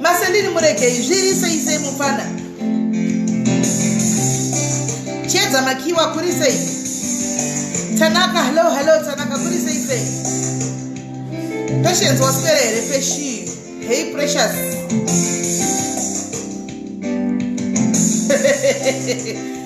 masendini muregei zvirise isei mupfana chiedza makiwa kuri sei tanaka hello hello tanaka kuri sei sei patience waswera here peshi hei precious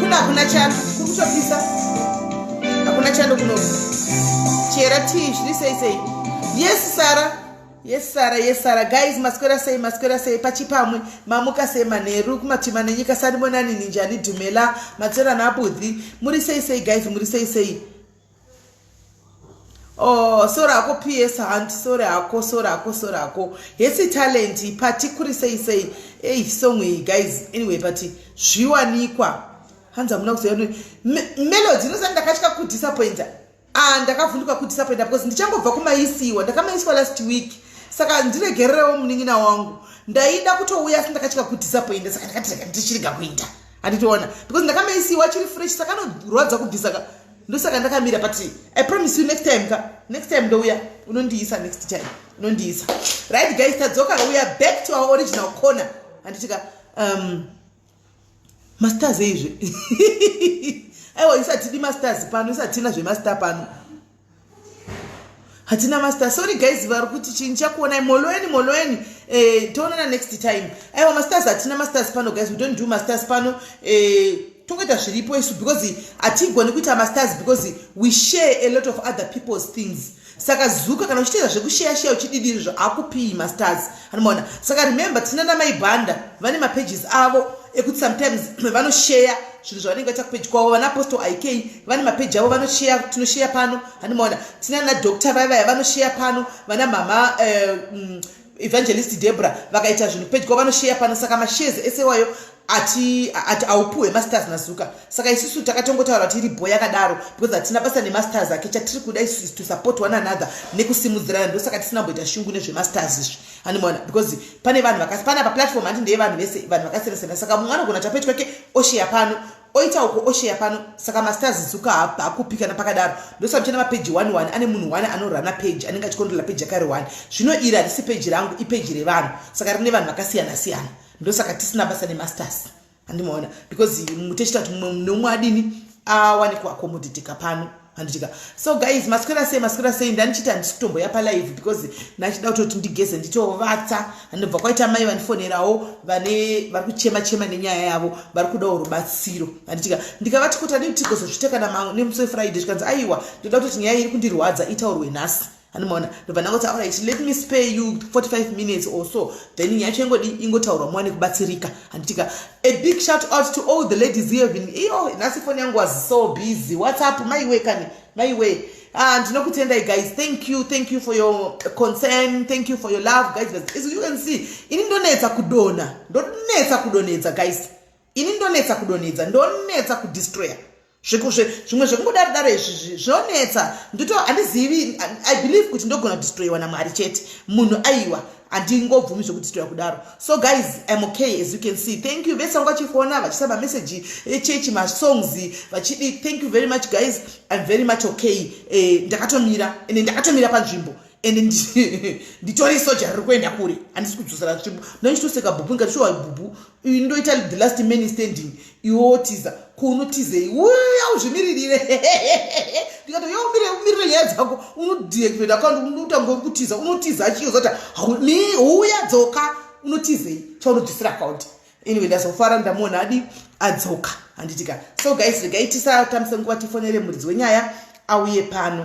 kuna hakuna chando kukutopisa hakuna chando kuno chera tii zviri sei sei yes sara yes sara yes sara guys maswera sei maswera sei pachipamwe mamuka sei manheru kumatima nenyika sandimonani ninjani dhumela matserana abudhi muri sei sei guys muri sei sei Oh, sora ako PS hunt sora ako sora ako sora ako hesi talent pati kuri sei sei ei song iyi guys anyway pati zviwanikwa hanzi hamuna kuzoya melody inosani ndakatya kudisappointa ah, ndakavhunduka kudisappointa because ndichangobva kumaisiwa ndakamaisiwa last week saka ndiregererewo munin'ina wangu ndaida kutouya asi ndakatya kudisappointa saka ndakati rega ndichirega kuita handitoona because ndakamaisiwa chiri fresh saka anorwadza kubvisa ndosaka ndakamira but i promise you next time ka next time ndouya unondiisa next time unondiisa right guys tadzoka we are back to our original corner handitika um, masters eizve aiwa isatidi masters pano isatina zvemaster pano hatina master sorry guys vari kuti chinyi chakuonai moloeni moloeni eh, toonana next time aiwa masters hatina masters pano guys we don't do masters pano eh, tokuita zviripo isu because hatigoni kuita masters because we share a lot of other people's things saka zuka kana uchiteedza zvekusheya sheya uchididirizvo akupiyi masters anomaona saka remember tina namai banda vane mapages avo ekuti sometimes vanosheya zvinhu zvavanenge vaita kupeji kwavo vana apostle ik vane mapeji avo vanosheya tinosheya pano handimaona tina na doctor vaya vaya vanosheya pano vana mhama eh, mm, evangelist debra vakaita zvinhu kupeji kwavo vanosheya pano saka mashezi ese iwayo ati ati aupuhwe masters nazuka saka isusu takatongotaura kuti iri bho yakadaro because hatina basa nemasters ake chatiri kuda isu is to support one another nekusimudzirana ndosaka tisina kumboita shungu nezvemasters izvi handimaona because pane vanhu vakasi pana paplatform handi ndeye vanhu vese vanhu vakasiyana siyana saka mumwe anogona tapeti kwake osheya pano oita uko osheya pano saka masters zuka hakupi kana pakadaro ndosaka ndichina mapeji one one ane munhu one anorana peji anenge achikontrola peji yakari one zvino iri harisi peji rangu ipeji revanhu saka rine vanhu vakasiyana siyana ndosaka tisina basa nemasters andimaona because mutechiita kuti mumwe neumwe adini awane kuakomoditeka pano handitika so guys maswera sei maswera sei ndandichiita handisi kutomboya palive because ndachida kutoti ndigeze nditovatsa handibva kwaita mai vandifonerawo vane vari kuchema chema nenyaya yavo vari kudawo rubatsiro handitika ndikavati kuti adii tigozozvita kana nemusi wefriday zvikanzi aiwa ndoda kutoti nyaya iri kundirwadza itaurwe nhasi andimaona ndobva ndangoti aurit let me spare you 45 minutes or so then nyaya yacho ingodi ingotaurwa mwane kubatsirika handitika a big shout out to all the ladies here been iyo nhasi foni yangu was so busy whatsapp maiwe kani maiwe ah, ndinokutendai uh, guys thank you thank you for your concern thank you for your love guys as you can see ini ndonetsa kudona ndonetsa kudonedza guys ini ndonetsa kudonedza ndonetsa kudestroyer zvekozve zvimwe zvekungodaro daro izvi zvinonetsa ndito handizivi i believe kuti ndogona kudistroyiwa namwari chete munhu aiwa handingobvumi zvekudistroya kudaro so guys im okay as you can see thank you vese vanga vachifona vachisaba message echechi eh, masongs vachidi thank you very much guys im very much okay eh, ndakatomira ende ndakatomira panzvimbo and nditori soja riri kuenda kure handisi kudzosera tsvimbo ndochitoseka bhubu ndikati shuwa bhubu uyu ndoita the last man standing iwotiza kunotizei uya uzvimiririre ndikati yo umire umirire nyaya dzako unodeactivate account unotanga uri kutiza unotiza achiyo zoti mi uya dzoka unotizei chaunodzosera account anyway ndazofara ndamuona adi adzoka handitika so guys regai tisatambisa nguva tifonere muridzi wenyaya auye pano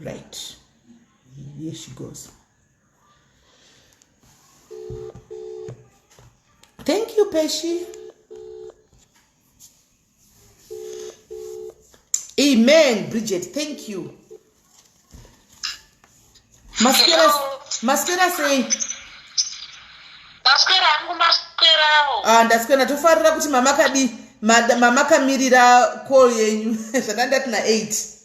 right here she goes thank you peshi amen bridget thank you maswera maswera sei maswera angu maswerawo ah ndaswera tofarira kuti mama kadi mama kamirira call yenyu zvandandati na 8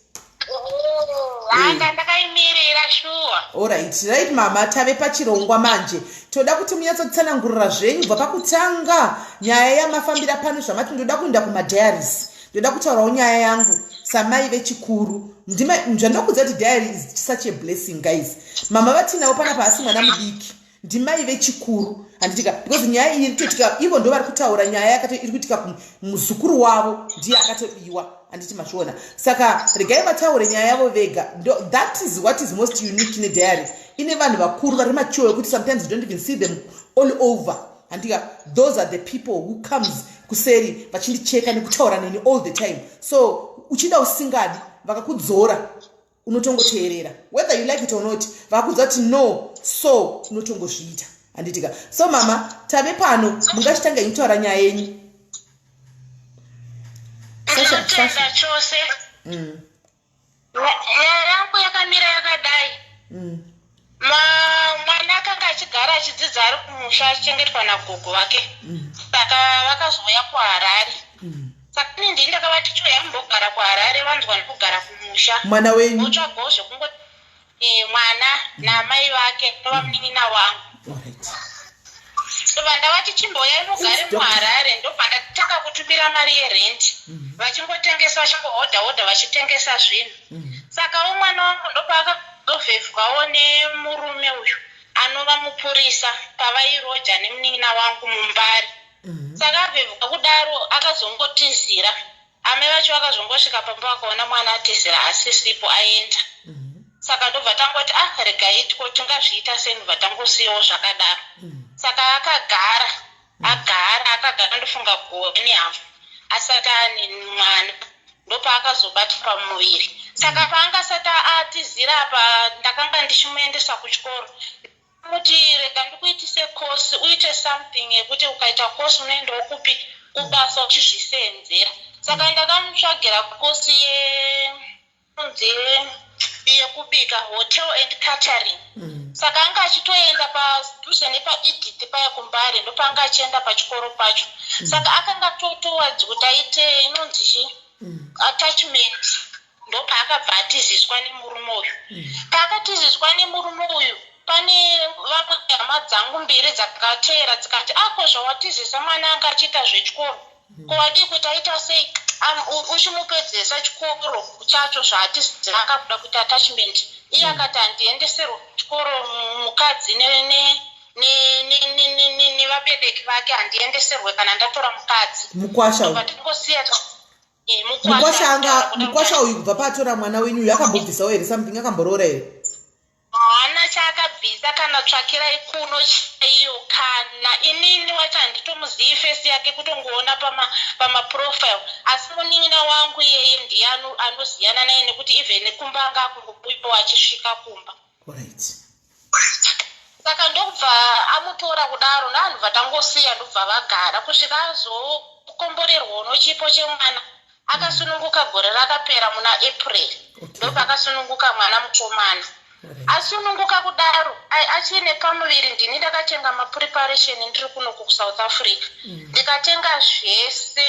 hanga ndakaimirira shuwa orit right mama tave pachirongwa manje toda kuti munyatsotsanangurira zvenyu bva pakutanga nyaya yamafambira pano zvamati ndoda kuenda kumadiaries ndoda kutaurawo nyaya yangu samai vechikuru ndima zvandokuudza kuti diary is such a blessing guys mama vatinawo pana paasi mwana mudiki ndimai vechikuru handitika because nyaya iyi irikuitika ivo ndo vari kutaura nyaya yakato iri kuitika muzukuru wavo ndiye akatobiwa handiti mazviona saka regai vataure nyaya yavo vega that is what is most unique nediary ine vanhu vakuru vari mature wekuti sometimes you don't even see them all over handika those are the people who comes kuseri vachindicheka nekutaura neni all the time so uchida usingadi vakakudzora unotongoteerera whether you like it or not vakudza kuti no so unotongozviita handitika so mama tave pano mungachitanga ikutaura nyaya yenyu ndinotenda chose mm. nyarangu yakamira yakadai mm. Ma, mwana akanga achigara achidzidza ari kumusha achichengetwa nagogo vake mm. saka mm. vakazouya kuharare mm. saka ini ndii ndakavati choya mumbogara kuharare vanzwa ndikugara kumusha mwana wenyu otsvagawo zvekungo e, mwana mm. naamai vake nova munin'ina wangu right. saka ndavati chimboya inogare muharare ndobva ndatanga kutumira mari yerenti mm. vachingotengesa vachingohodha hodha vachitengesa zvinhu saka wo mwana wangu ndopaakazovhevhwawo nemurume uyu anova mupurisa pavairoja nemunin'ina wangu mumbare saka avhevhuka kudaro akazongotizira amai vacho vakazongosvika pamba vakaona mwana atizira asisipo aenda saka ndobva tangoti ah regai tiko tingazviita sei ndobva tangosiyawo zvakadaro saka akagara Agara akagara ndofunga gore nehafu asati ane mwana ndopaakazobata pamuviri saka paangasati atizira apa ndakanga ndichimuendesa kuchikoro kuti rega ndikuitise kosi uite something yekuti ukaita kosi unoendawo kupi kubasa uchizviseenzera saka ndakamutsvagira kosi ye yekubika hotel and catering mm. saka anga achitoenda padhuze nepaedit paya kumbare ndopaanga achienda pachikoro pacho mm. saka akanga totowadzi kuti aite inonzi chi mm. attachment ndopaakabva atiziswa nemurume uyu mm. paakatiziswa nemurume uyu pane vamwe hama dzangu mbiri dzakateera dzikati ako ah, zvawatizisa mwana anga achiita zvechikoro ko wadii kuti aita sei uchimupedzesa chikoro chacho zvaatizii akakuda kuita attachment iye mm. akati handiendeserwa chikoro mukadzi nevabereki vake handiendeserwe kana ndatora mukadzi mukwasha patingosiya eh, mukwasha anga mukwasha uyu kubva paatora mwana wenyu uyu akambobvisawo here something akamboroora here Haana chaakabvisa kana tsvakirai kuno chaiyo kana inini wacho handitomuzivi face yake kutongoona pama pama profile asi munin'ina wangu iyeye ndiye anoziyana naye nekuti even kumba anga akungobuyawo achisvika kumba right saka ndokubva amutora kudaro ndanhu vatangosiya ndobva vagara kusvika azokomborerwa unochipo chemwana akasununguka gore rakapera muna april ndopakasununguka mwana mukomana asununguka kudaro achiine pamuviri ndini ndakatenga mapreparation ndiri kuno kusouth africa mm. ndikatenga zvese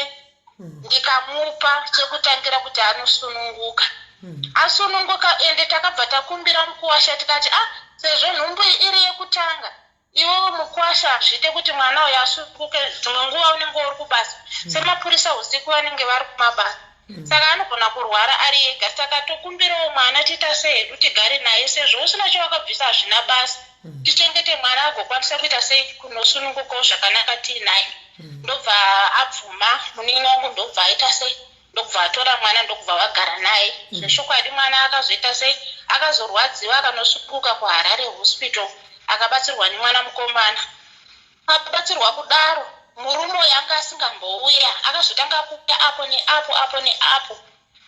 mm. ndikamupa chekutangira kuti anosununguka mm. asununguka ende takabva takumbira mukuwasha tikati a ah, sezvo nhumbu iri yekutanga Iwewe mukwasha hazviite kuti mwana uyo asukuke dzimwe nguva unenge uri kubasa mm. semapurisa usiku vanenge vari kumabasa mm. saka anogona kurwara ari ega saka tokumbirawo mwana tiita sehedu tigare naye sezvo usina chawakabvisa hazvina basa mm. tichengete mwana agokwanisa kuita sei kunosunungukawo zvakanaka tiinaye ndobva abvuma munini wangu ndobva aita sei ndokubva atora mwana ndokubva vagara naye mm. zvechokwadi mwana akazoita sei akazorwadziwa akanosunguka kuharare hospital akabatsirwa nemwana mukomana akabatsirwa kudaro murume uyo anga asingambouya akazotanga kuuya apo neapo apo neapo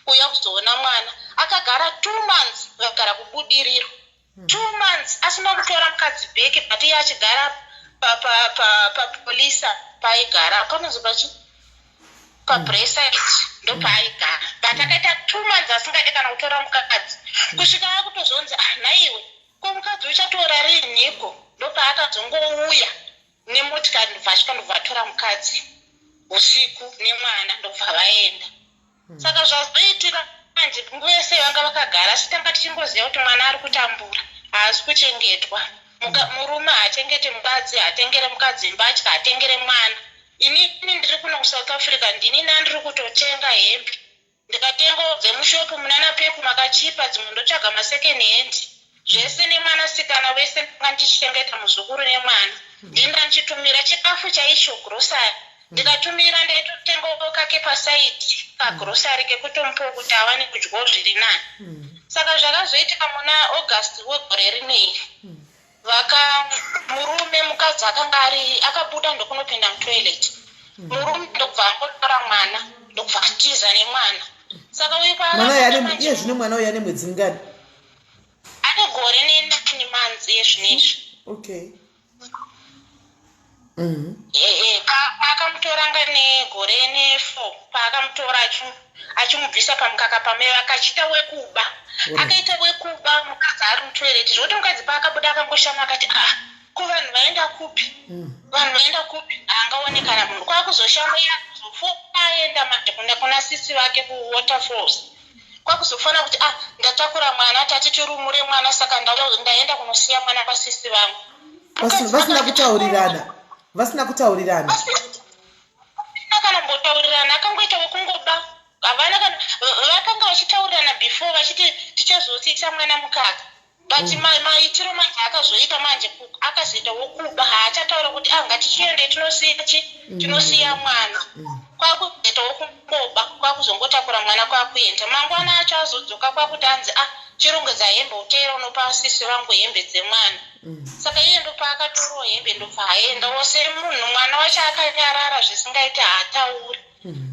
kuuya kuzoona mwana akagara two months vakagara kubudiriro hmm. two months asina kutora mukadzi beke but iye achigara papolisa paaigara panonzi pachi pabresaid hmm. ndopaaigara hmm. but akaita two months asingade kana kutora mukadzi kusvika akutozonzi ah, nhaiwe ko mukadzi uchatora riiniko ndopaakazongouya nemotikari ndobva achika ndobva atora mukadzi usiku nemwana ndobva vaenda hmm. saka zvazoitika manje nguva yese vanga vakagara asi tanga tichingoziva kuti mwana ari kutambura haasi kuchengetwa hmm. murume haachengete mukadzi hatengere mukadzi mbatya hatengere mwana ini ini ndiri kuno kusouth africa ndini nandiri kutotenga hembe ndikatengawo dzemushopu munana pepu makachipa dzimwe ndotsvaga masecond hand zvese nemwanasikana wese ndandichengeta muzukuru nemwana ndini ndandichitumira chikafu chaicho grocery ndikatumira ndaitotengawo kake pasaidi kagrocery kekutomupawo kuti awane kudyawo zviri nani saka zvakazoitika muna august wegore rinei vaka murume mukadzi akanga ari akabuda ndokunopinda mutoilet murume ndokubva angotora mwana ndokubva atiza nemwana saka uyu kwaaiye zvino mwana uyu ane mwedzi mingani Ane gore nenani manzi ezvinezvi. Okay. Mhm. Eh eh paakamutoranga negore ne 4 paakamutora achu achimubvisa pamukaka pame akachita wekuba. Akaita wekuba mukadzi ari mutoilet zvoti mukadzi paakabuda akangoshama akati ah ko vanhu vaenda kupi? Mm. Vanhu vaenda kupi? Angaone kana munhu kwakuzoshama yakuzofoka aenda manje kuna sisi vake ku waterfalls. kwakuzofanira kuti ah ndatakura mwana tati tirumure mwana saka ndaenda kunosiya mwana kwasisi vangu vasina kutaurirana vasina kutaurirana kana mbotaurirana akangoita wekungoba havana kana vakanga vachitaurirana before vachiti tichazotsiisa mwana mukaka but mm. maitiro manje akazoita manje akazoita wokuba haachataura kuti ah ngatichiende tinosiya chi mm. tinosiya mwana mm. kwakuzoita wokungoba kwakuzongotakura mwana kwakuenda mangwana acho azodzoka kwakuti anzi ah chirongedza hembe uteera unopa sisi vangu hembe dzemwana saka iye ndopaakatorowo hembe ndobva aenda wose munhu mwana wacho akanyarara zvisingaiti haatauri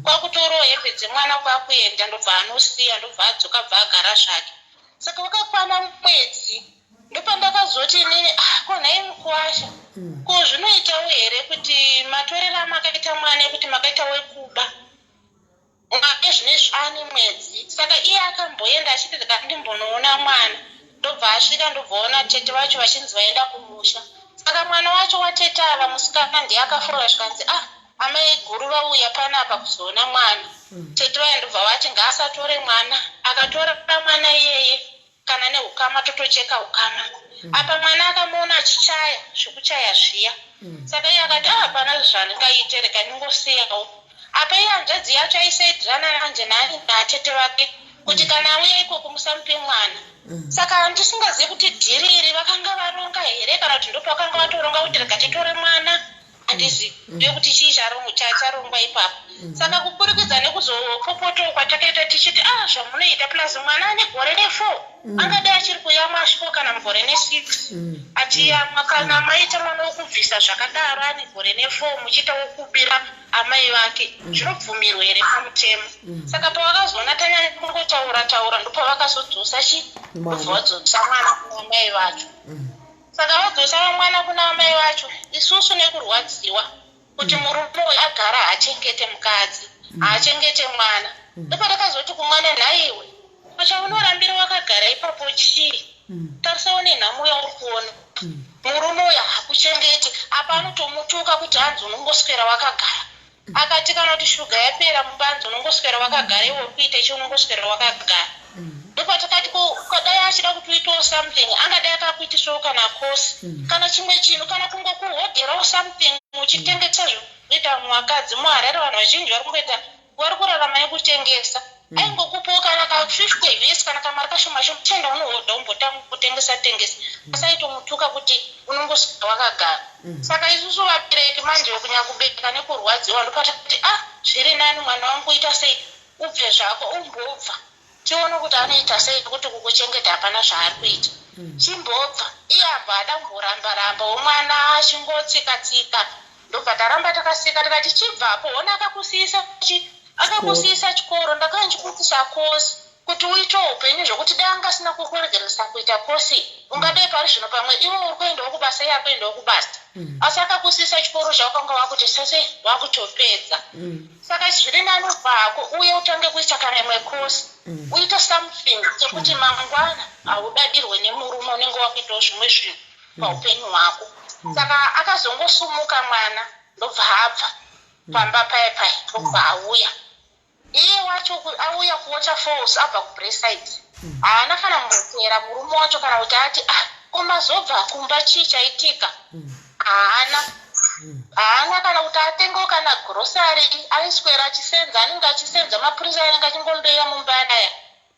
kwakutorawo hembe dzemwana kwakuenda ndobva anosiya ndobva adzoka bva agara zvake saka wakakwana mwedzi ndopandakazoti inini ah, ko nhai mukuwasha mm. ko zvinoitawo here kuti matorero amakaita mwana ekuti makaita wekuba mwake zvine zvani mwedzi saka iye akamboenda achiti ndikandimbonoona mwana ndobva asvika ndobvaona tete vacho vachinzi vaenda kumusha saka mwana wacho watete ava musikana ndiye akafora zvikanzi ah Amai guru vauya panapa kuzoona mwana. Mm. Tete vaya ndobva vati ngaasatore mwana. Akatora mwana iyeye kana neukama totocheka ukama. Mm. Apa mwana akamuona achichaya zvekuchaya zviya. Mm. Saka iye akati ah, hapana zvandingaite reka ndingosiyawo. Apa iye hanzvadzi yacho aisaidirana nanje nani natete vake kuti mm. kana auya ikoko musamupe mwana. Mm. Saka handisingazivi kuti dhiri iri vakanga varonga here kana kuti ndopavakanga vatoronga kuti reka titore mwana. handizvi mm. ndekuti chii charongwa ipapo mm. saka kuburikidza nekuzopopotoo kwatakaita tichiti a ah, zvamunoita plus mwana ane gore nefour mm. angadai achiri kuyamwa asviko kana mugore nesix achiyamwa kana maita mwana wokubvisa zvakadaro ane gore nefour muchiita wokubira amai vake zvinobvumirwa here pamutemo saka pavakazoona tanyanya kungotaura taura ndopavakazodzosa chi kubva vadzosa mwana kuamai vacho Saka vodzosa mwana kuna amai vacho isusu nekurwadziwa kuti murume uyu agara haachengete mukadzi haachengete mwana ndopatakazoti kumwana nhaiwe pachaunorambira wakagara ipapo chii tarisa une nhamo yauri kuona murume uyu hakuchengete apa anotomutuka kuti hanzi unongoswera wakagara Akati kana kuti shuga yapera mubanzi unongoswera wakagara iwe uri kuita chi unongoswera wakagara. Ndopatakati ko ko dai achida kuti uitewo something angadai akakuitisawo kana course kana chimwe chinhu kana kungokuhodherawo something uchitengesa zvekuita vamwe vakadzi muHarare vanhu vazhinji vari kungoita vari kurarama nekutengesa. mm. aingokupawo kana ka 50 vhesi kana kamari kashoma shoma chenda unohodha umbotanga kutengesa tengesa mm. asaitomutuka kuti unongosvika wakagara mm. saka isusu vabereki manje kunyakubereka nekurwadziwa ndopata kuti ah zviri nani mwana wangu uita sei ubve zvako umbobva tione kuti anoita sei nekuti kukuchengeta hapana zvaari kuita mm. chimbobva iye ambo ada kumboramba ramba womwana achingotsika tsika, tsika. ndobva taramba takaseka tikati chibvapo hona akakusiyisa chi akakusiyisa chikoro ndakanga ndichikuitisa kosi kuti uite upenyu zvekuti dai anga asina kukuregeresa kuita kosi ungadei pari zvino pamwe iwe uri kuendawo kubasa iye akuendawo kubasa mm. asi akakusiyisa chikoro chaukanga wakuti sase wakutopedza mm. saka zviri nani vako uye utange kuita kana imwe kosi mm. uite something chekuti mangwana haudadirwe nemurume unenge wakuitawo zvimwe zvinhu paupenyu hwako mm. saka akazongosumuka mwana ndobva abva mm. pamba paye paye ndobva mm. auya iye wacho auya kuwater falls abva kubreside haana kana mutera murume wacho kana kuti ati ah komazobva kumba chii chaitika haana haana kana kuti atengewo kana grosary aiswera achisenza anenge achisenza mapurisa anenge achingombeya mumba anaya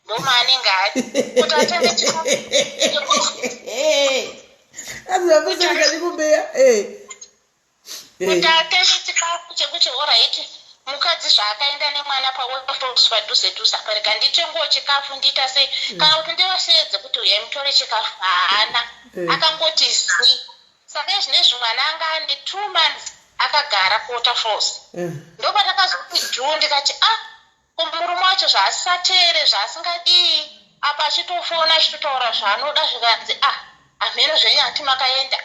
ndomaanenge ari kuti atenge chikafuakubeya kuti atenge chikafu chekuti oraiti mukadzi zvaakaenda nemwana paooswa dhuze dhuze apa rega nditengowo chikafu ndiita sei mm. kana kuti ndivasheedze kuti uyai mutore chikafu haana eh. akangoti zii saka izvine zvimwana anga ane two months akagara kuota false eh. ndopatakazokuti juu ndikati ah Ko murume wacho zvaasingateere zvaasingadii apa achitofona achitotaura zvaanoda zvikanzi ah hamheno zvenyu hati makaenda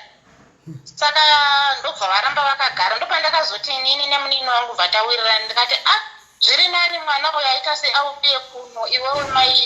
saka ndobva varamba vakagara ndopandakazoti inini nemunini wangu bva tawirirana ndikati ah zviri nani mwana uyo aita sei auye kuno iwewe mai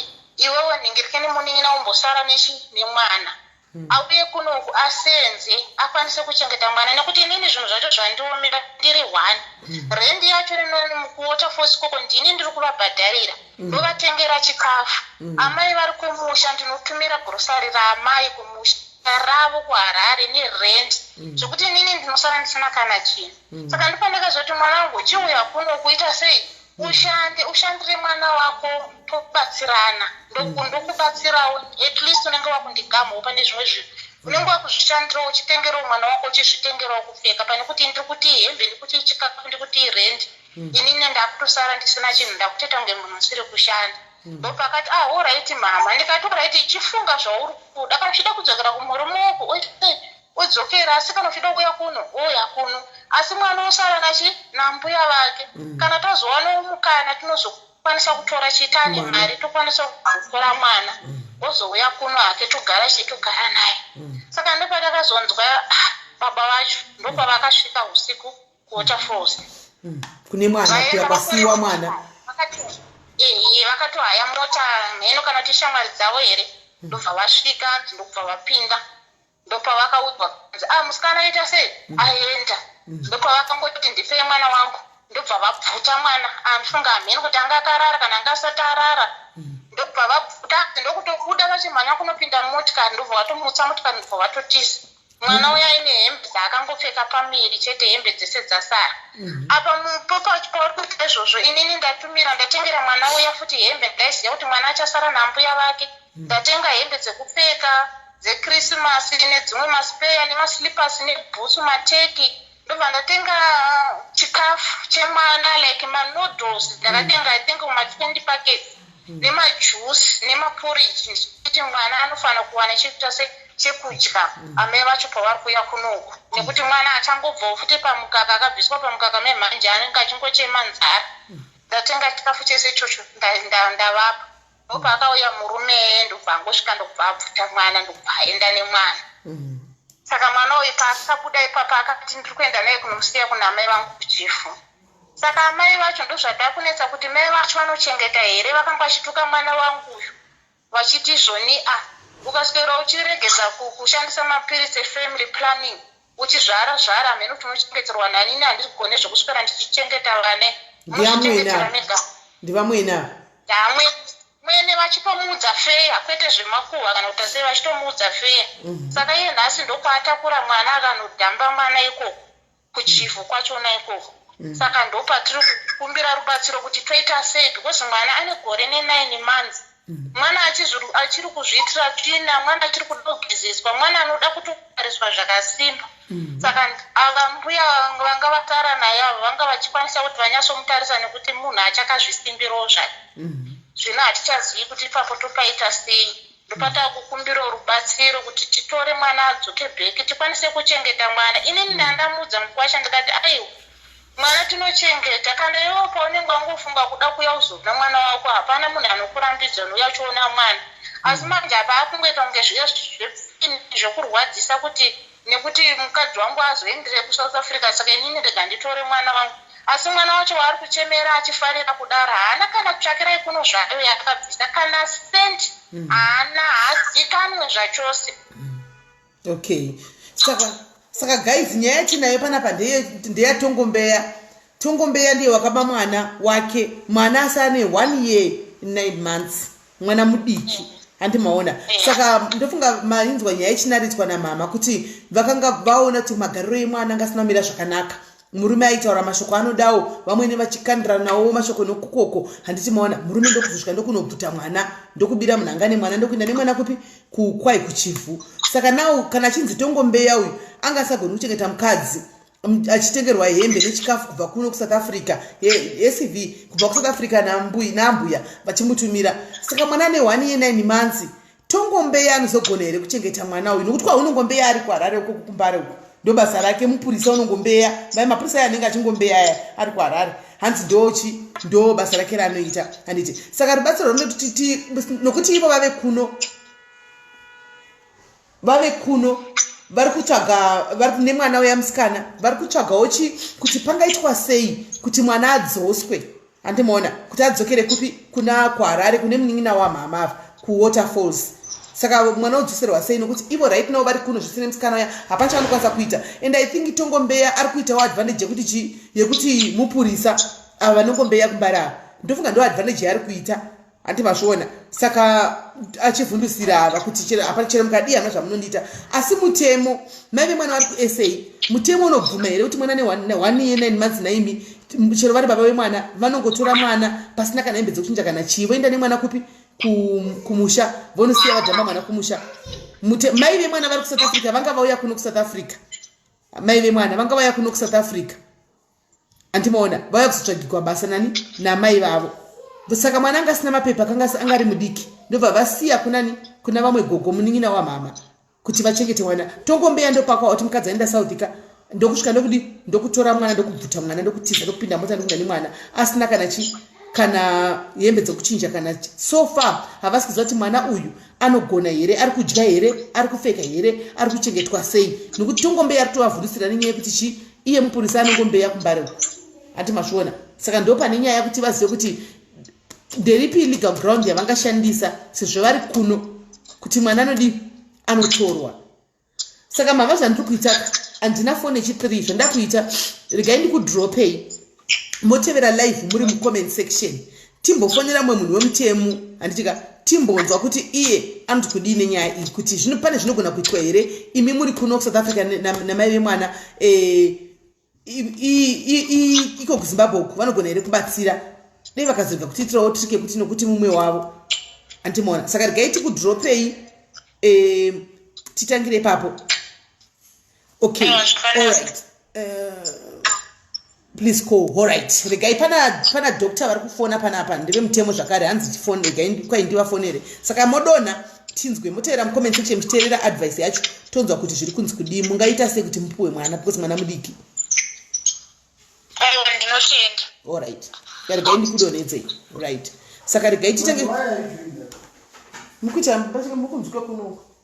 iwewe nhingirikeni munin'ina umbosara nechi nemwana hmm. auye kunoku asenze akwanise kuchengeta mwana nekuti inini zvinhu zvacho zvandiomera ndiri one hmm. rendi yacho rinomukuota fosi koko ndini ndiri kuvabhadharira hmm. ndovatengera chikafu amai vari kumusha ndinotumira grosari raamai kumusha ravo kuharare nerent mm. zvekuti inini ndinosara ndisina kana chinhu mm. saka ndipandakazoti mwana wangu chiuya kuno kuita sei ushande ushandire mwana wako tobatsirana mm. ndokubatsirawo at least unenge wakundigamhawo pane zvimwe zvinhu unenge wakuzvishandirawo uchitengerawo mwana wako uchizvitengerawo kupfeka pane kuti ndiri kuti hembe ndi kuti chikafu ndi kuti rendi mm. inini ndakutosara ndisina chinhu ndakuteta kunge munhu usiri kushanda mm. ndopakati ah oraiti mama ndikati oraiti chifunga zvauri kuda kana uchida kudzokera kumurume wako oite odzokera asi kana uchida kuuya kuno wouya kuno asi mwana osara nachi nambuya vake mm. kana tazowana umukana tinozokwanisa kutora chitani mari tokwanisa kutora mwana mm. ozouya kuno hake togara chii togara naye mm. saka ndopatakazonzwa ah, baba vacho ndopavakasvika usiku kuota froze mm. kune mwana kuya kwasiiwa mwana ehe vakatohaya mota mheno kana kuti shamwari dzavo here mm. ndobva vasvika ndokubva vapinda ndopavakaudzwa kuti ah musikana aita sei mm. aenda mm. ndopavakangoti ndipei mwana wangu ndobva vabvuta mwana andifunga ah, amheni kuti anga akarara kana anga asati arara mm. ndobva vabvuta ndokutobuda vachimhanya kunopinda motikari ndobva vatomutsa motikari ndobva vatotiza mwana uya aine hembe dzaakangopfeka pamiri chete hembe dzese dzasara apa pauri kuita izvozvo inini ndatumira ndatengera mwana uya futi hembe ndaiziva kuti mwana achasara nambuya vake ndatenga hembe dzekupfeka dzekrisimasi nedzimwe maspeya nemaslippers nebhutsu mateki ndobva ndatenga chikafu chemwana like manoodles ndakatenga mm. i think matwenty packets mm. nemajuice nemaporridge ndichikuti mwana anofanira kuwana chekuita se chekudya mm. amai vacho pavari kuuya kunoku mm. nekuti mwana achangobvawo futi pamukaka akabviswa pamukaka memhanje anenge achingochema nzara mm. ndatenga chikafu chese ichocho ndavapa ndopaakauya murume eye ndokubva angosvika ndokubva abvuta mwana ndokubva aenda nemwana mm. saka mwana uyu paakabuda ipapa akati ndiri kuenda naye kunomusiya kuna amai vangu kuchifu saka amai vacho ndozvatakunetsa kuti mai vacho vanochengeta here vakanga vachituka mwana wangu uyu vachiti zvoni a ukaswera uchiregeza kushandisa mapiritsi efamily planning uchizvara zvara hameno kuti unochengeterwa nani ini handigone zvekuswera ndichichengeta vane unozvichengetera mega ndivamwene ava ndamwe mwene vachitomuudza feya kwete zvemakuhwa kana kuti asei vachitomuudza feya mhm. saka iye nhasi ndokwaatakura mwana akanodhamba mwana ikoko kuchivhu kwachona ikoko mhm. saka ndopatiri kukumbira rubatsiro kuti toita sei because mwana ane gore nenine months mm -hmm. mwana achiri kuzviitira tsvina mwana achiri kuda kugezeswa mwana anoda kutotariswa zvakasimba mm-hmm. saka ava mbuya vanga vatara naye avo vanga vachikwanisa kuti vanyatsomutarisa nekuti munhu achakazvisimbirawo zvake mm-hmm. zvino hatichazivi kuti ipapo topaita sei ndopatava kukumbira rubatsiro kuti titore mwana adzoke bheki tikwanise kuchengeta mwana inini mm-hmm. ndandamuudza mukwasha ndikati aiwa Mwana tinochengeta kana iwewo paunenge wangofunga kuda kuya uzovna mwana wako hapana munhu anokurambidza unouya uchiona mwana asi mm. manje apa akungoita kunge zvepfini zvekurwadzisa kuti nekuti mukadzi wangu azoendire kusouth africa saka inini ndega nditore mwana wangu asi mwana wacho waari kuchemera achifarira kudaro haana kana tsvakirai kuno zvayo yakabvisa kana sent mm. haana hazikanwe zvachose mm. okay saka saka guys nyaya yatinayo panapa ndeyatongombea tongombea ndiye wakaba mwana wake mwana asane one year nine months mwana mudiki handi maona saka ndofunga mainzwa nyaya ichinaritswa namama kuti vakanga vaona kuti magariro emwana anga asina kumira zvakanaka murume aitaura mashoko anodawo vamwene vachikandiranawo mashoko nokukoko handiti maona murume ndokuzosvika ndokunobvuta mwana ndokubira munhu anga nemwana ndokuinda nemwana kupi kukwai kuchivhu saka nawo kana achinzi tongombeya uyu anga asagoni kuchengeta mukadzi achitengerwa hembe nechikafu kubva kuno kusouth africa yecv kubva kusouth africa nambuya vachimutumira saka mwana ane one ye nine months tongombeya anozogona here kuchengeta mwana uyu nokuti kwaunongombeya ari kuharare uko kukumbare uko ndobasa rake mupurisa unongombeya mai mapurisa ayo anenge achingombeya aya ari kuharare hanzi ndochi ndo basa rake raanoita handiti saka rubatsiro rwunoti nokuti ivo vave kuno vave kuno vari kutsvaga vari nemwana uya musikana vari kutsvagawo chi kuti pangaitwa sei kuti mwana adzoswe handimuona kuti adzokere kupi kuna kuharare kune munin'ina wamhama ava kuwater falls saka mwana udzoserwa sei nokuti ivo right now vari kuno zvisine musikana uya hapana chaanokwanisa kuita and i think tongombeya ari kuitawo advantage yekuti chii yekuti mupurisa ava vanongombeya kumbari ava ndofunga ndo advantage yaari kuita handi mazviona saka achivhundusira ava kuti hapana chero mukadii hana zvamunondiita asi mutemo maive mwana wari kusa mutemo unobvuma here kuti mwana neone year nine months naimi chero vari baba vemwana vanongotora mwana pasina kana hembe dzekuchinja kana chii voenda nemwana kupi kumusha vonosiya vadhamba mwana kumusha mai vemwana vari kusouth africa vanga vauya kuno kusouth africa mai vemwana vanga vauya kuno kusouth africa andimaona vauya kuzotsvagikwa basa nani namai vavo saka mwana anga asina mapepa akanga anga ari mudiki ndobva vasiya kunani kuna vamwe gogo munin'ina wamama kuti vachengete mwana tongombeya ndopakwa oti mukadzi aenda southika ndokusvika ndokudi ndokutora mwana ndokubvuta mwana ndokutiza ndokupinda mota ndokuda nemwana asina kana chi kana hembe dzekuchinja kana so far havasi kuziva kuti mwana uyu anogona here ari kudya here ari kupfeka here ari kuchengetwa sei nokuti tongombeya ari kutovavhurusira nenyaya yekuti chii iye mupurisa anongombeya kumbare hati mazviona saka ndo pane nyaya kuti vazive kuti nderipi legal ground yavangashandisa sezvo vari kuno kuti mwana anodii anotorwa saka mava zvandiri kuitaka handina foni yechitiri izvo ndakuita regai ndikudropei motevera live muri mucomment section timbofonera mumwe munhu wemutemo handitika timbonzwa kuti iye anoti kudii nenyaya iyi kuti zvino pane zvinogona kuitwa here imi muri kuno kusouth africa namai vemwana eh, iko kuzimbabwe uku vanogona here kubatsira dei vakazoga kutiitirawo trike kuti nokuti mumwe wavo andimoona saka regai tikudropei eh, titangire ipapo okay alright uh, please call alright regai pana pana doctor vari kufona panapa ndeve mutemo zvakare hanzi tifone regai kwai ndivafonere saka modonha tinzwe motevera mucomment section muchiteerera advice yacho tonzwa kuti zviri kunzi kudii mungaita sei kuti mupuwe mwana because mwana mudiki alright regai ndikudonhedzei right saka regai titange mukuita mukunzwika kunoku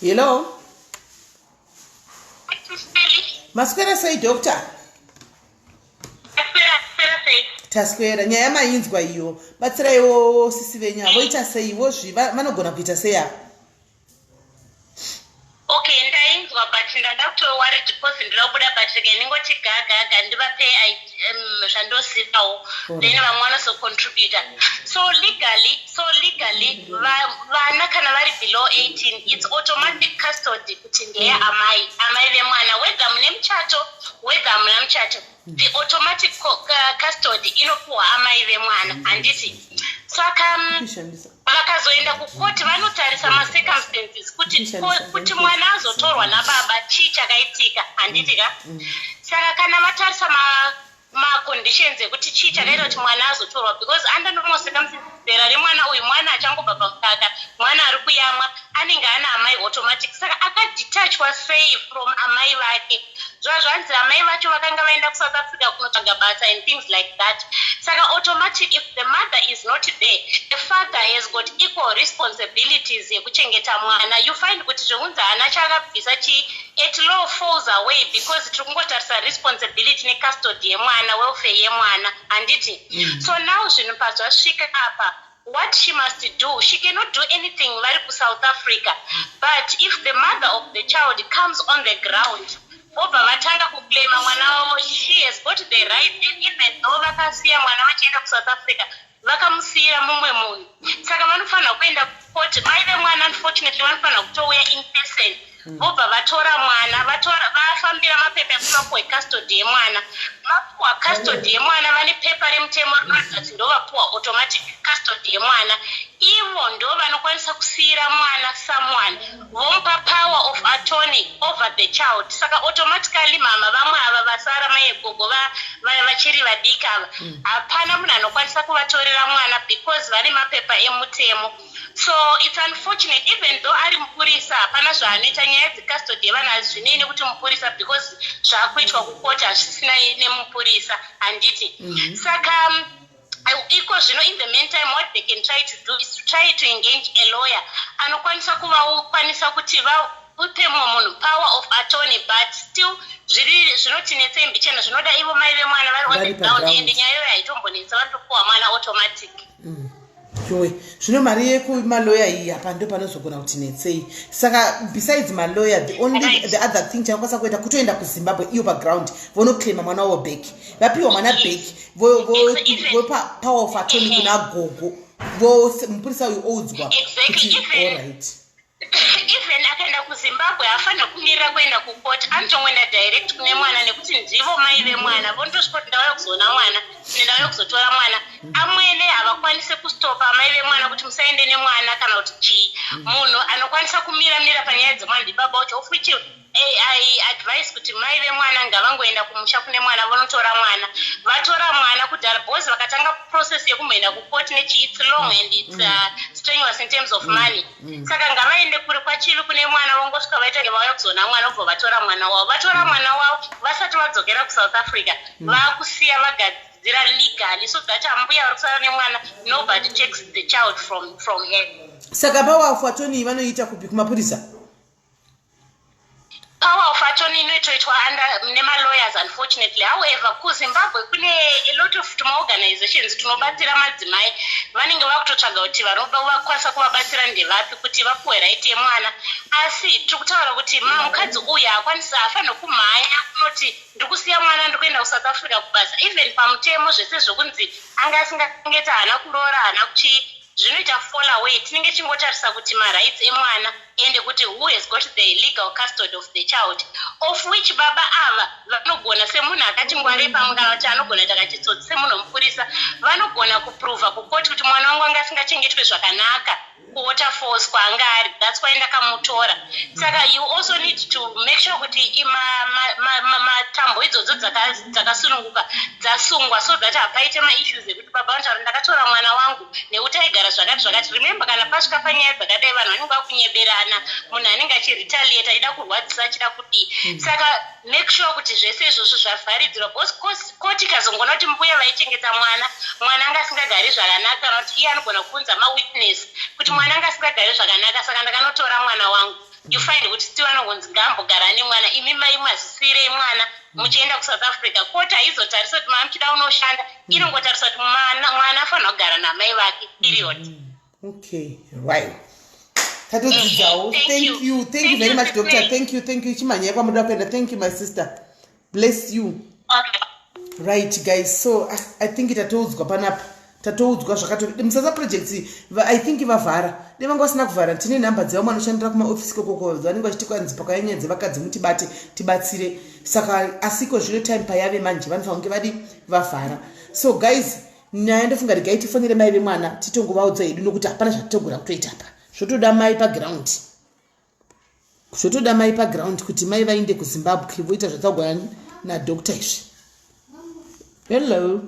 hello maswera sei doctor taswera nyaya mainzwa iyo batsiraiwo sisi venyu avoita seiwo zvi vanogona kuita sei avo Okay, ndainzwa but ndanga kutori worried because ndiri kubuda but rega ndingoti gagaga ndivape um, zvandozivawo then vamwe vanozocontributa so legally so legally vana kana vari below 18 it's automatic custody kuti ndeye amai amai vemwana whether mune muchato whether hamuna muchato the automatic custody inopuwa amai vemwana handiti saka mm, vakazoenda kukoti vanotarisa macircumstances kuti kuti mwana azotorwa nababa chii chakaitika handiti ka mm, mm. saka kana vatarisa maconditions ekuti chii chakaita kuti mwana azotorwa because under normal circumstances Zera remwana uyu mwana achangobva pamukaka mwana ari kuyamwa anenge ana amai automatic saka akadetachwa sei from amai vake zvova zvanzi amai vacho vakanga vaenda kusouth africa kunotsvaga basa and things like that saka automatic if the mother is not there the father has got equal responsibilities yekuchengeta mwana you find kuti zvekunzi hana chaakabvisa chii at law falls away because tiri kungotarisa responsibility necustody yemwana welfare yemwana handiti mm. so now zvinhu pazvasvika apa what she must do she cannot do anything vari kusouth africa but if the mother of the child comes on the ground vobva vatanga kuclaima mwana wavo she has got the right and even though vakasiya mwana vachienda kusouth africa vakamusiyira mumwe munhu saka vanofanira kuenda kucourt mai vemwana unfortunately vanofanira kutouya in person hmm. vobva vatora mwana vafambira mapepa ekumapuwa ecustody yemwana mapuwa custody yemwana vane pepa remutemo rinoratidza kuti ndovapuwa automatic custody yemwana ivo ndo vanokwanisa kusiyira mwana someone vomupa power of attorney over the child saka automatically mama vamwe ava vasara mai egogo vaya vachiri vadiki ava hmm. hapana munhu anokwanisa kuvatorera mwana because vane mapepa emutemo So it's unfortunate even though ari mupurisa hapana zvaaneta nyaya dzecustody yevana hazvinei nekuti mupurisa because zvakuitwa kukoti hazvisina nemupurisa handiti mm -hmm. saka um, iko zvino in the main time what they can try to do is to try to engage a lawyer anokwanisa kuvakwanisa kuti va upe mumwe munhu power of attorney but still zviri zvinotinetsa imbichena zvinoda ivo mai vemwana vari on the ground ende nyaya iyoyo haitombonetsa vanotopuwa mwana automatic mm. yowe zvino mari yekumaloya iyi apa ndo panozogona kuti netsei saka besides maloya the only the other thing chakakwanisa kuita kutoenda kuzimbabwe iyo paground vonoclaima mwana wavo back vapiwa mwana back vopa power of atony kuna gogo vose mupurisa uyu oudzwa kuti allright even akaenda kuzimbabwe haafanira kumirira kuenda kucourt anotongoenda direct kune mwana nekuti ndivo mai vemwana vondosvika kuti ndauya kuzoona mwana ne ndauya kuzotora mwana amwene havakwanise kustopa amai vemwana kuti musaende nemwana kana kuti chii munhu anokwanisa kumira mira panyaya dzemwana ndibaba wacho ofuchi ai advise kuti mai vemwana ngavangoenda kumusha kune mwana vonotora mwana vatora mwana kudhara bcause vakatanga process yekumboenda kucourt nechi its long and its mm. uh, strenuous in terms of mm. money mm. saka ngavaende kuri kwachivi kune mwana vongosvika vaita nge vauya kuzoona mwana vobva vatora mwana wavo vatora mwana wavo vasati vadzokera kusouth africa vakusiya vagadzira kudzidzira legally so that ambuya vari kusara nemwana nobody takes the child from, from her saka pawafu atoni vanoita kupi kumapurisa Power of attorney inoitoitwa under nemalawyers unfortunately. However, kuZimbabwe kune a lot of tumaorganizations tunobatsira madzimai vanenge vakutotsvaga kuti vakwanisa kuvabatsira ndevapi kuti vapuwe right yemwana. Asi tiri kutaura kuti mukadzi uyu haakwanisi haafanirwe kumhanya kunoti ndikusiya mwana ndikuenda kusouth africa kubasa even pamutemo zvese zvekunzi anga asingangeta haana kuroora haana kuchii Zvinoita fall away tinenge tichingotarisa kuti marights emwana ende kuti who has got the legal custody of the child of which baba ava vanogona semunhu akati ngwarei pamwe kana kuti anogona kuita kachitsotsi semunhu wemupurisa vanogona kuprover kukoti kuti mwana wangu anga asingachengetwe zvakanaka kuota falls kwaanga ari thats why ndakamutora saka you also need to make sure kuti matambo idzodzo dzakasununguka dzasungwa so that hapaite maissues Baba vataura ndakatora mwana wangu nekuti aigara zvakati zvakati. Remember kana pasvika panyaya dzakadai vanhu vanenge vakunyeberana, munhu anenge achiretaliate achida kurwadzisa achida kudii. Mm. Saka make sure kuti zvese izvozvo zvavharidzirwa because koti ikazongoona kuti mbuya vaichengeta mwana, mwana anga asingagari zvakanaka kana kuti iye anogona kuunza mawitness kuti mm. mwana anga asingagari zvakanaka saka ndakanotora mwana wangu. you find kuti still anongonzi ngaambogara nemwana imi mai mazisirei mwana muchienda kusouth africa koti haizotarisa kuti maa muchida unoshanda mm. inongotarisa kuti mwana afanira kugara namai vake period mm. okay right tatodzidzawo thank you thank you very much doctor thank you thank you chimhanyai kwamuda kuenda thank you my sister bless you right guys so ah, i think tatoudzwa panapa tatoudzwa zvakato musasa projects i think vavhara de vanga vasina kuvhara tine nhamba dzevamwe anoshandira kumaofisi kokoko vanenge vachiti kwanzi pakanyanya dzevakadzi mutibate tibatsire saka asiko zvino time payave manje vanofanira kunge vadi vavhara so guys nyaya ndofunga regai tifonere mai vemwana titongovaudza hedu nokuti hapana zvatitogona kutoita apa zvotoda mai paground zvotoda mai paground kuti mai vainde kuzimbabwe voita zvataugwa nadoctor izvi hello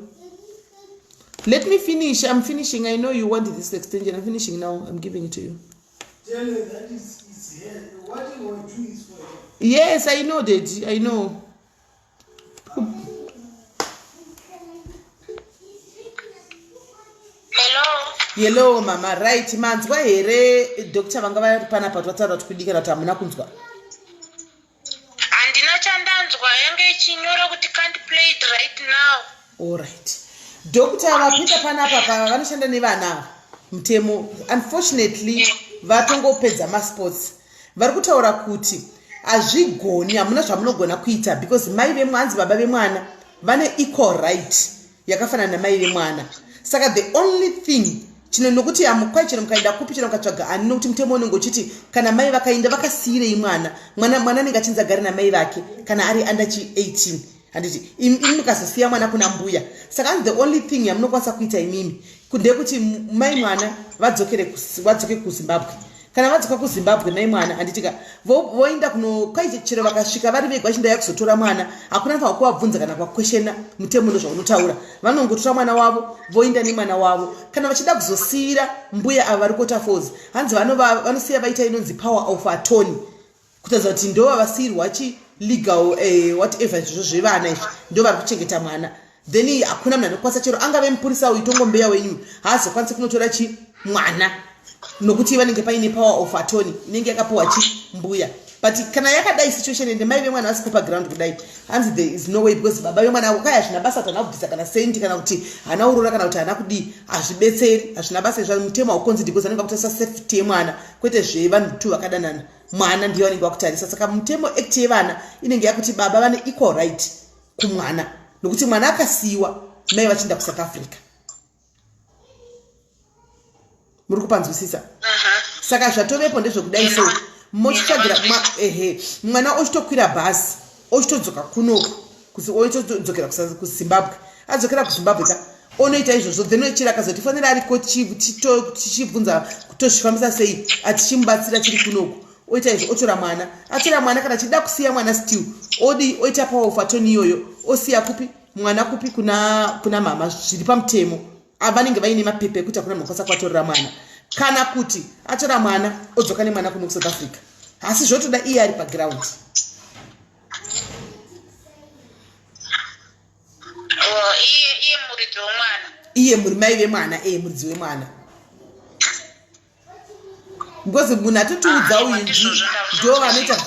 let me finish im finishing i know you want this extension im finishing now im giving it to you yes i know dady i know hello mama right manzwa here doctor vanga vari panapa kuti vataura kuti kudikana kuti hamuna kunzwa handina chandanzwa yange ichinyora kuti can't play it right now allright doctor vapita panapa pava vanoshanda nevana ava mutemo unfortunately vatongopedza masports vari kutaura kuti hazvigoni hamuna zvamunogona kuita because mai vemwanzi baba vemwana vane equal right yakafanana namai vemwana saka the only thing chino nokuti hamukwai chino mukaenda kupi chino mukatsvaga ani nokuti mutemo unenge uchiti kana mai vakainda vakasiyirei mwana mwana mwana anenge achinzi agare namai vake kana ari under chi 18 handiti imi mukazosiya mwana kuna mbuya saka hanzi the only thing yamunokwanisa kuita imimi ndekuti mai mwana vadzokere vadzoke kuzimbabwe kana vadzoka kuzimbabwe mai mwana handitika voenda kuno kwaite chero vakasvika vari vega vachindaya kuzotora mwana hakuna faa kuvabvunza kana kwakweshena mutemo no zvaunotaura vanongotora mwana wavo voenda nemwana wavo kana vachida kuzosiyira mbuya ava vari kota fos hanzi vanosiya vaita inonzi power of atony kutaridza kuti ndo vavasiirwa chi legal eh, whatever izvozvo zvevana izvi ndo vari kuchengeta mwana then hakuna munhu anokwanisa chero angave mupurisa uyu tongombeya wenyu haazokwanisi kunotora chi mwana nokuti vanenge paine power of atony inenge yakapiwa chi mbuya but kana yakadai situation ende mai vemwana vasipo paground kudai hanzi there is no way because baba vemwana avo kaya hazvina basa kuti hana kubvisa kana sendi kana kuti hana urora kana kuti hana kudii hazvibetseri hazvina basa izvo mutemo haukonzi because anenge akutarisa safety yemwana kwete zvevanhu two vakadanana mwana ndiye vanenge vakutarisa saka mutemo act yevana inenge yakuti baba vane equal right kumwana nokuti mwana akasiyiwa mai vachienda kusouth africa muri kupanzwisisa saka zvatovepo ndezvekudai so mochitsvagira ehe mwana ochitokwira bhazi ochitodzoka kunoku oitodzokera kuzimbabwe adzokera kuzimbabwe ka onoita izvozvo then chero akazotifanira ariko tichibvunza tozvifambisa sei atichimubatsira chiri kunoku oita izvo otora mwana atora mwana kana achida kusiya mwana still odii oita power of atoni iyoyo osiya kupi mwana kupi kuna, kuna mama zviri pamutemo ava vanenge vaine mapepa ekuti hakuna mukwanisa kuvatorera mwana kana kuti atora mwana odzoka nemwana kuno kusouth africa asi zvotoda iye ari paground oh, iye muridzi wemwana iye muri mai vemwana eye muridzi wemwana because munhu atotiudza ah, uyu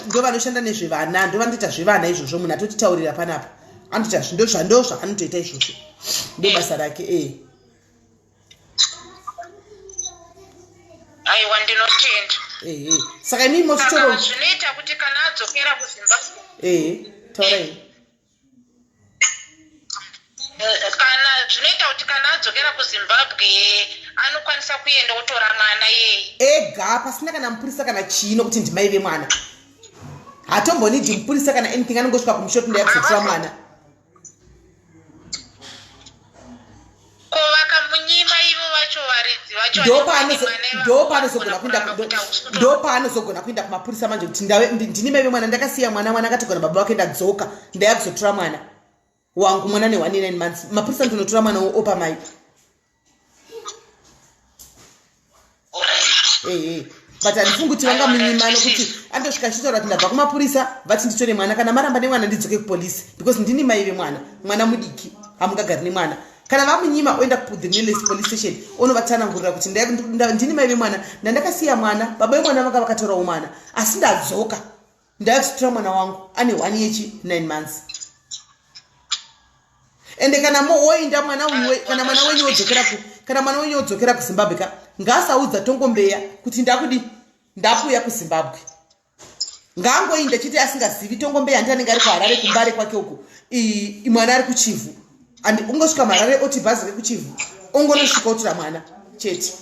ndo vanoshanda nezvevana ndo vanotoita zvevana izvozvo munhu atotitaurira panapa anotoita zvandozva anotoita izvozvo ndo eh. basa rake e aiwa ndinotenda ehe saka imii motitoro zvinoita kuti kana adzokera kuzimbabwe ehe taurai kana zvinoita kuti kana adzokera kuzimbabwe anokwanisa kuenda otora mwana yeye ega pasina kana mupurisa kana chii nokuti ndimai vemwana hatombonidi mupurisa kana anything anongosvika kumushoto ndayakuzotira mwana Ko vakamunyima ivo vacho varidzi vacho ndopaanozogona kuenda ndopaanozogona kuenda kumapurisa manje kuti ndini maive mwana ndakasiya mwana mwana akatogona baba vake ndadzoka ndaya kuzotora mwana wangu mwana ne 19 months mapurisa ndinotora mwana opa mai ehe but handifungi kuti vangamunyimano kuti andosvika achitaura kuti ndabva kumapurisa vati nditore mwana kana maramba nemwana ndidzoke kupolisi because ndini mai vemwana mwana mudiki hamungagari nemwana kana vamunyima oenda kuthe nearest police station onovatsanangurira kuti ndini mai vemwana ndandakasiya mwana baba vemwana vanga vakatorawo mwana asi ndadzoka ndakusitura mwana wangu ane one yechi nine months ende kana woinda mwana uwe kana mwana wenyu wodzokera ku kana mwana wenyu wodzokera kuzimbabwe ka ngaasaudza tongombeya kuti ndakudi ndakuuya kuzimbabwe ngaangoinda chete asingazivi tongombeya ndi anenge ari kuharare kumbare kwake uku mwana ari kuchivhu and ungosvika marare oti bhazi rekuchivhu ongonosvika otora mwana chete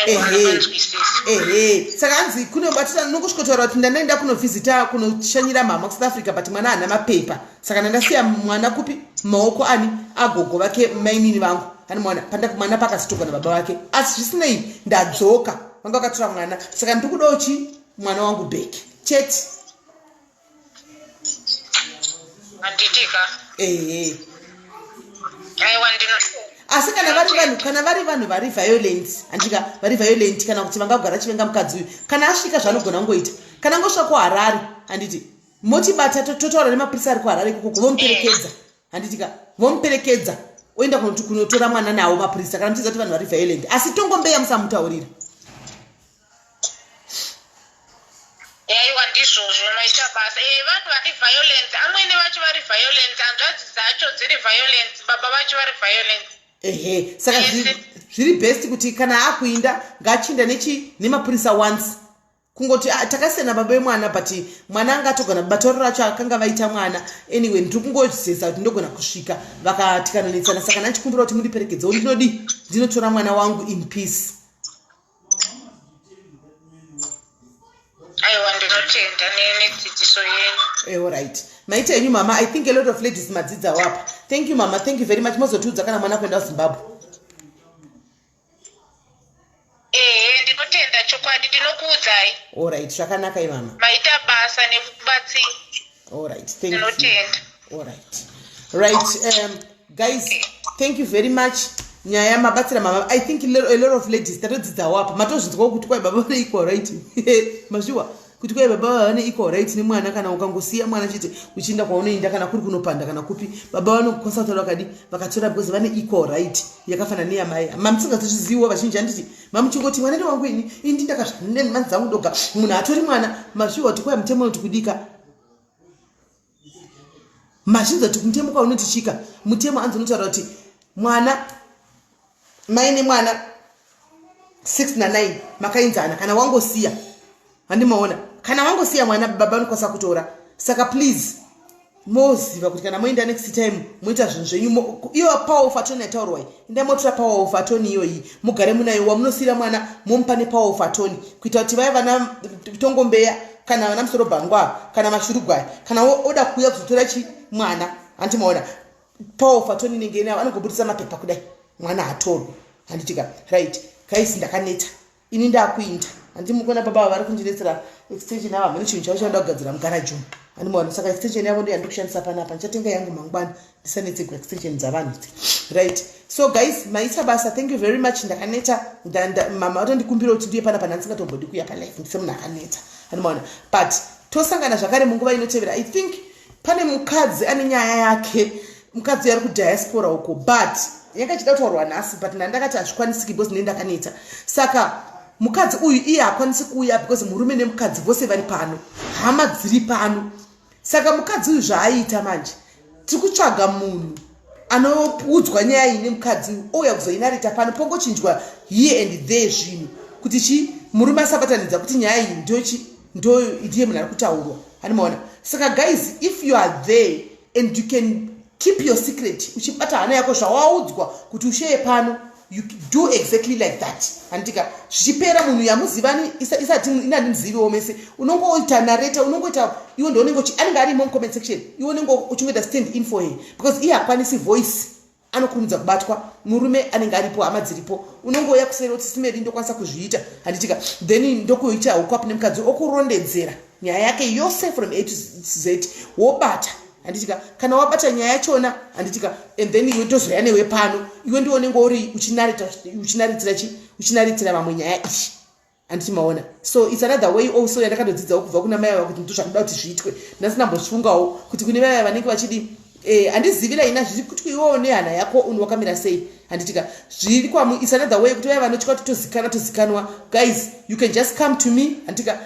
ehe ehe saka hanzi kunobatirana nokusvikotaura kuti ndandaenda kunovhizita kunoshanyira mhamha kusouth africa but mwana haana mapepa saka ndandasiya mwana kupi maoko ani agogo vake mainini vangu ani mwana pandamwana pakasitogwa nababa vake asi zvisinei ndadzoka vanga vakatora mwana saka ndiri kudawo chi mwana wangu bheki chete handitika ehe aiwa ndino asi kana vari vanhu kana vari vanhu vari violent handika vari violent kana kuti vangagara chivenga mukadzi uyu kana asvika zvaanogona kungoita kana ngosvika kuharare handiti motibata to- totaura nemapurisa ari kuharare ikoko vomuperekedza handitika vomuperekedza oenda kunoti kunotora mwana nawo mapurisa kana muchiziva kuti vanhu vari violent asi tongombeya musamutaurira yaiwa ndizvozvo maita basa e eh, vanhu vari violence amwene vacho vari violence hanzvadzi dzacho dziri violence baba vacho vari violence ehe saka zviri best kuti kana akuinda ngaachinda nechi nemapurisa once kungoti ah, takasiyana baba vemwana but mwana anga atogona batoro racho akanga vaita mwana anyway ndiri kungozesa kuti ndogona kusvika vakatikanonetsana saka ndanchikumbira kuti mundiperekedzewo ndinodii ndinotora mwana wangu in peace aiwa ndinotenda nedzidziso yenyu Eh, alright maita enyu mama i think a lot of ladies madzidzawo apa thank you mama thank you very much mozotiudza kana mwana kuenda kuzimbabwe ehe ndinotenda chokwadi ndinokuudzai alright zvakanaka imama maita basa nekubatsira alright thank you ndinotenda Alright. Right. Um, guys, thank you very much. nyaya mabatsira mababa i think a lot of ladies tatodzidzawo apa matozvinzwawo kuti kwai baba vane equal right mazviwa kuti kwai baba vava vane equal right nemwana kana ukangosiya mwana chete uchienda kwaunoenda kana kuri kunopanda kana kupi baba vanoconsulta vakadi vakatora because vane equal right yakafanana neyamai mamusingazozviziviwo vazhinji handiti mamuchingoti mwana newangu ini indi ndakazvane mani dzangu doga munhu atori mwana mazviwa kuti kwai mutemo unoti kudika mazvinza kuti mutemo kwaunoti chika mutemo anzi unotaura kuti mwana mai nemwana 6 na 9 makainzana kana wangosiya handimaona kana wangosiya mwana baba anokwanisa kutora saka please moziva kuti kana moenda next time moita zvinhu zvenyu iyo power of atony yataurwai enda motora power of atony iyoyi mugare munayo wamunosiyira mwana momupa nepower of atony kuita kuti vaya vana tongombeya kana vana musoro bhangwa kana mashurugwai kana oda kuuya kuzotora chi mwana hanti maona paul fatoni inenge inavo anogobudisa mapepa kudai mwana hatorwi handitika right kaisi ndakaneta ini ndakuinda handi mukona baba ava vari kundinetsera extension yavo hamene chinhu chavo chanoda kugadzira mugaraji umu handimaona saka extension yavo ndeyandikushandisa panapa ndichatenga yangu mangwana ndisanetsigwa extension dzavanhu idzi right so guys maita basa thank you very much ndakaneta mama vatondikumbira kuti ndiye pana pana ndisingatombodi kuya palife ndisemunhu akaneta anomaona but tosangana zvakare munguva inotevera i think pane mukadzi ane nyaya yake mukadzi ari kudiaspora uko but yakachida kutaurwa nhasi but nandakati hazvikwanisiki because ndine ndakaneta saka mukadzi uyu iye hakwanisi kuuya because murume nemukadzi vose vari pano hama dziri pano saka mukadzi uyu zvaaiita manje tiri kutsvaga munhu anoudzwa nyaya iyi nemukadzi uyu ouya kuzoinarita pano pongochinjwa here and there zvinhu kuti chii murume asabatanidza kuti nyaya iyi ndochi ndiye munhu ari kutaurwa animaona saka guys if you are there and you can keep your secret uchibata hana yako zvawaudzwa kuti usheye pano you do exactly like that handitika zvichipera munhu yamuzivani isati inandimziviwo mese unonge oita nareta unonge oita iwo ndoonenge anenge arimo mucomment section iwo unenge uchingoita stand in for her because iye hakwanisi voice anokurumidza kubatwa murume anenge aripo hama dziripo unonge oya kuseri oti simeri ndokwanisa kuzviita handitika then ndokuita ukwap nemukadzi okurondedzera nyaya yake yose from a to z wobata handitika kana wabata nyaya yachona handitika and then iwe ndozoya newe pano iwe ndiwo unenge uri uchinaritsira chi uchinaritsira vamwe nyaya iyi handiti maona so its another way also yandakatodzidzawo kubva kuna mai ava kuti ndo zvakuda kuti zviitwe ndasina mbofungawo kuti kune mai vanenge vachidi eh, handizivi raina zviri kuti iwewo nehana yako un wakamira sei handitika zviri kwamu its another way kuti vaya vanotya kuti tozikanwa tozikanwa guys you can just come to me handitika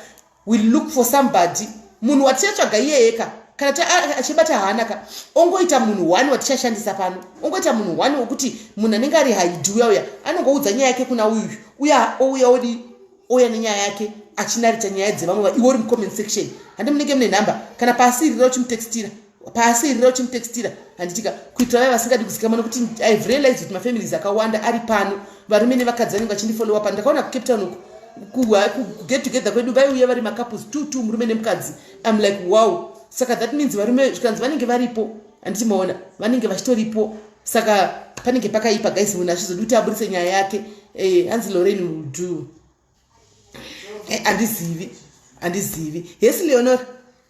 we look for somebody munhu watichatsvaga iyeyeka kana achibata haana ka ongoita munhu one watichashandisa pano ongoita munhu one wekuti munhu anenge ari haidi uya uya anongoudza nyaya yake kuna uyu uya ouya odi ouya nenyaya yake achinarita nyaya dzevamwe iwe uri mucomment section handi munenge mune nhamba kana paasirira uchimutextira pasi irira uchinditextira handitika kuitira vaya vasingadi kuzikamwa nokuti ive realized kuti mafamilies akawanda ari pano varume nevakadzi vanenge vachindifollowa pano ndakaona kucape town uku kuget together kwedu vaiuya vari macouples two two murume nemukadzi im like wow saka that means varume zvikanzi vanenge varipo handiti maona vanenge vachitoripo saka panenge pakaipa guys munhu achizodi kuti aburitse nyaya yake eh, hanzi loren will do eh, andizivi andizivi hesi leonor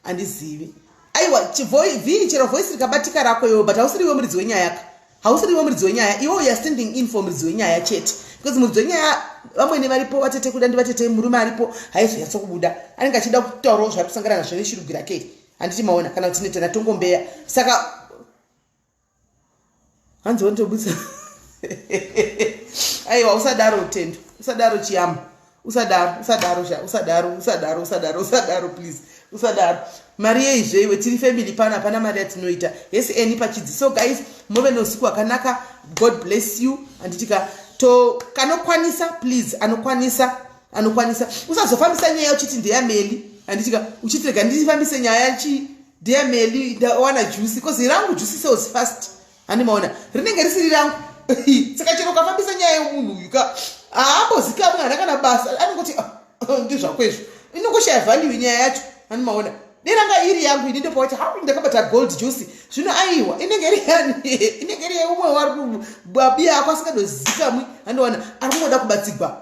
andizivi aiwa chivii chero voice rikabatika rako iwe but hausiriwe muridzi wenyaya ka hausiriwe muridzi wenyaya iwe uya standing in for muridzi wenyaya chete because muridzi wenyaya vamwene varipo vatete kuda ndi vatete murume aripo haizoyatso kubuda anenge achida kutaurawo zvaari kusangana nazvo neshirugwi rake handiti maona kana kuti netana tongombeya saka hanzi wanditobudisa aiwa usadaro tendo usadaro chiyama usadaro usadaro sha usadaro usadaro usadaro usadaro please usadaro mari yeizve iwe tiri family pano hapana mari yatinoita hesi eni pachidzi so guys move neusiku hwakanaka god bless you anditika to kanokwanisa please anokwanisa anokwanisa usazofambisa nyaya uchiti ndeyameli anditika uchitirega ndifambise nyaya chii Dear Melly, ndawana juice because rangu juice sells fast. Handi maona rinenge risiri rangu. Saka chero ukafambisa nyaya yemunhu uyu ka haambozikamwe hana kana basa anongoti ah, ah, ndizvako izvo inongoshaya value nyaya yacho handi maona deranga iri yangu ini ndopawacha ha ndakabata gold juice zvino aiwa inenge iri yani inenge iri yeumwe wari babi ako asingadozikamwi handiona ari kungoda kubatsigwa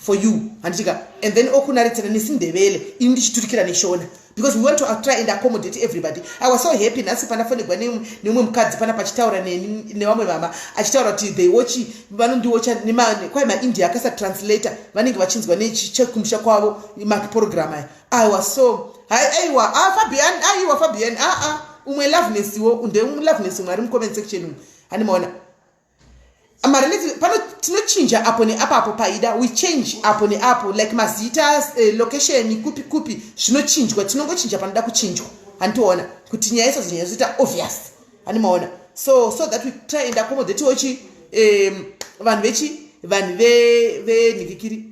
for you handiti ka and then okunaretsera nesindevele ini ndichiturikira neshona because we want to try and accommodate everybody i was so happy nhasi panafonegwa neumwe mukadzi pana pachitaura nevamwe mama achitaura kuti they watch vanondiwatcha kwai maindia akasatranslator vanenge vachinzwa nechekumusha kwavo maprogram aya i was so aiwa ah, fabian aiwa fabian aa ah, ah. umwe loveness wo ndeumloveness umwe ari mucomment section umu handimaona marineti pano tinochinja apo neapo apo paida we change apo neapo like mazita uh, location kupi kupi zvinochinjwa tinongochinja panoda kuchinjwa handiona kuti nyaya isazonyanya zoita obvious handimaona so so that we try and accommodate ochi um, vanhu vechi vanhu venhivikiri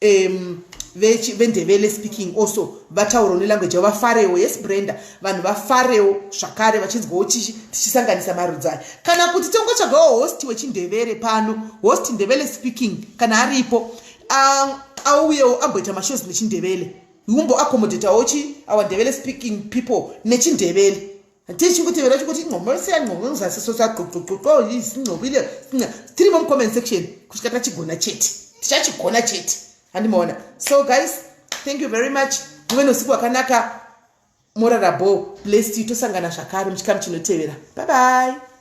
um, vendevele speaking also vatauro nelanguage yavo vafarewo yes brenda vanhu vafarewo zvakare vachinzwawo tichisanganisa marudzi aya kana kuti tongotsvagawo host wechindevere pano host ndevele speaking kana aripo um, auyewo amboita mashows nechindevele umbo accommodatawo chi our ndevele speaking people nechindevele tichi kuti vero chikuti ingqomo lisiya ngqomo ngizasi so sagqogqogqo yisingqobile tiri mo comment section kusvika tachigona chete tichachigona chete handimaona so guys thank you very much ndive nousiku wakanaka morarabo blessed tosangana zvakare muchikamu chinotevera bye bye